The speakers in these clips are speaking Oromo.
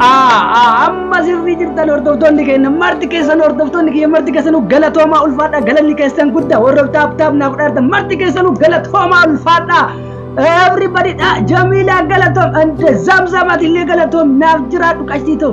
amma sirrii jirtan hordoftoonni keenya marti keessan hordoftoonni kiyya marti keessanuu galatoomaa ulfaadha galanni keessan guddaa warra taap taap naaf dhaartan marti keessanuu galatoomaa ulfaadha everybody dha jamiilaa galatoom and zamzamatillee galatoom naaf jiraadhu qashtii ta'u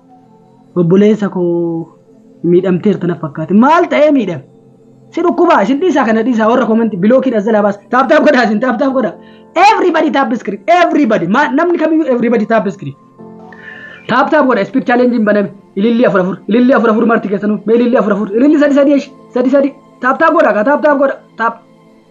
Obboleessa koo miidhamteerta na fakkaate. Maal ta'ee miidhame? Si dhukkubaa isin dhiisaa kana dhiisaa warra komanti bilookiin as jalaa baasa. Taap taap godhaa isin taap taap godhaa. Everybody taap screen everybody Ma- namni kamiyyuu everybody taap screen. Taap taap godha speed challenge hin baname. Ilillii afur afur ilillii afur afur marti keessanuu mee ilillii afur afur ilillii sadi sadi eshi sadi sadi taap taap godha kaa taap taap godha taap.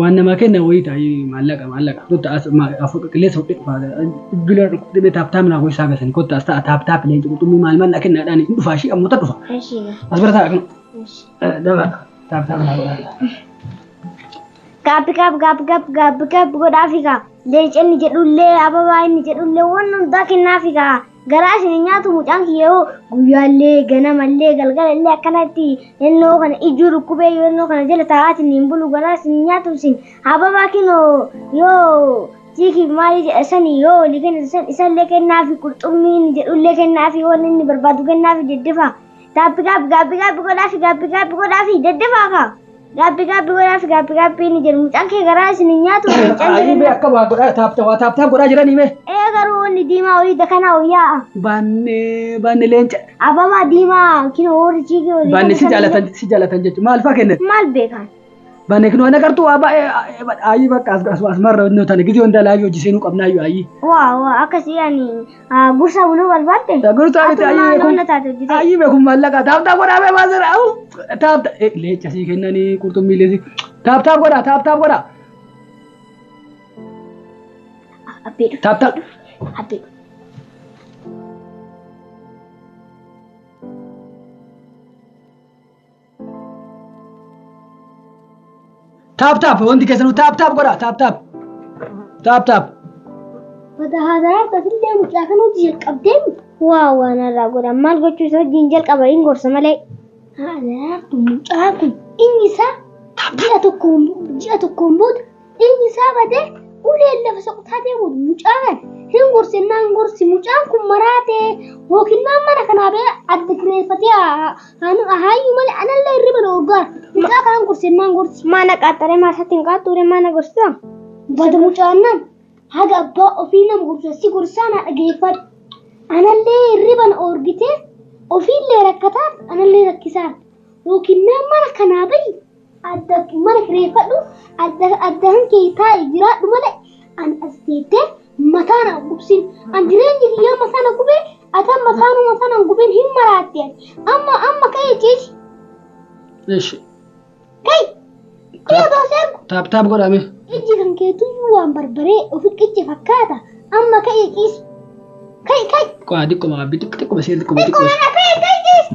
Waan namaa kenna wayii ta'i maallaqa maallaqa kotta as afur qilleensa fudhee dhufa bilbila dhukkubte bee taap taap naa gosi saaga sani kotta as ta'a taap taap leenci qurxummii maal maal naa kenna dhaani hin dhufaa ishii ammoota dhufa as bira ta'a akkana daba taap taap naa godhaa. Gaabbi gaab gaabbi gaab gaabbi gaab godhaafi gaa. Leenci inni jedhullee ababaa inni jedhullee waan hundaa kennaafi gaa. Garaa isin hin nyaatu mucaan kiyya hoo guyyaallee ganamallee galgalallee akkanatti ennoo kana ijuu dhukkubee yoo ennoo kana jala taa'aatiin hin bulu garaa isin hin nyaatu isin hababaa kinoo yoo tiikiif maalii jedha sani yoo olii kennitu san isallee kennaafi qurxummii inni jedhullee kennaafi waan inni barbaadu kennaafi deddefa Gaabbi gaabbi gaabbi gaabbi godhaafi gaabbi gaabbi godhaafi daddafaa kaa. Gaabbi gaabbi godhaafi gaabbi gaabbi inni jedhu mucaan kee garaa isin hin nyaatu mucaan Ayii mee jireenya. akka waa godhaa taapta waa taaptaa godhaa jiranii mee. Ee garuu wanni diimaa horii dakanaa hoyyaa'a. Baannee baanne leenca. Ababaa diimaa kinoo horii jiigee horii. Baanne si jaalatan si jaalatan jechuudha maal fa'aa kennan. Maal beekan? Bane kinoo ana qartuu waa baay'ee ayii bakka asmarra innoo tana gizee hundaa laayivii hojii seenuu qabnaa iyyuu ayii. Waa waa akkasii ani ah, gursa buluu barbaadde. Gursaa miti Atumaa ayii loona taate hojjetee. ayii beekum maallaqa taaptaa godhaa bee baasera au taapta leenca sii kennanii qurxummii leesii taaptaa godhaa taaptaa godhaa Abbee dhufu. taaptaa. Abbee dhufu. Taap taap wanti keessanuu taap taap godhaa taap taap taap taap. Wata haasayaa tasillee mucaa kan hojii jalqabdeen waa waan irraa godhan maal gochuu isa wajjin jalqaba hin gorsa malee. Haasayaa kun mucaa kun inni isaa ji'a tokkoon ji'a tokkoon booda Dhiigni isaa badee uleen lafa soqotaa deemu mucaan hin gorsinnaan gorsi mucaan kun maraatee yookiin maan mana kanaa bee adda kireeffatee haayyu malee anallee hirriba na urgaa mucaa kanaan gorsinnaan gorsi. Mana qaxxaree maasaatti hin qaxxuure mana gorsaa. Bada mucaan nan haga abbaa ofii nama gorsa si gorsaa na dhageeffadhu. Anallee hirriba na urgitee ofiillee rakkataan anallee rakkisaan yookiin maan mana kanaa bahi adda mana kireeffadhu adda addaan kee taa'e jiraadhu malee an as teettee mataa na gubsin an jireenyi kiyyaa mataa na gubee atan mataanuu mataa na gubin hin maraatte ati amma amma ka'ee ciisi Ishi. kai kiyya baasee argu Taap taap godhame. ijji kan keetuyyuu waan barbaree ofi qicce fakkaata amma ka'ee ciisi kai kai Qo'aa xiqqoo maabbii xiqqoo xiqqoo basee xiqqoo xiqqoo. xiqqoo mana ka'ee kai ciisi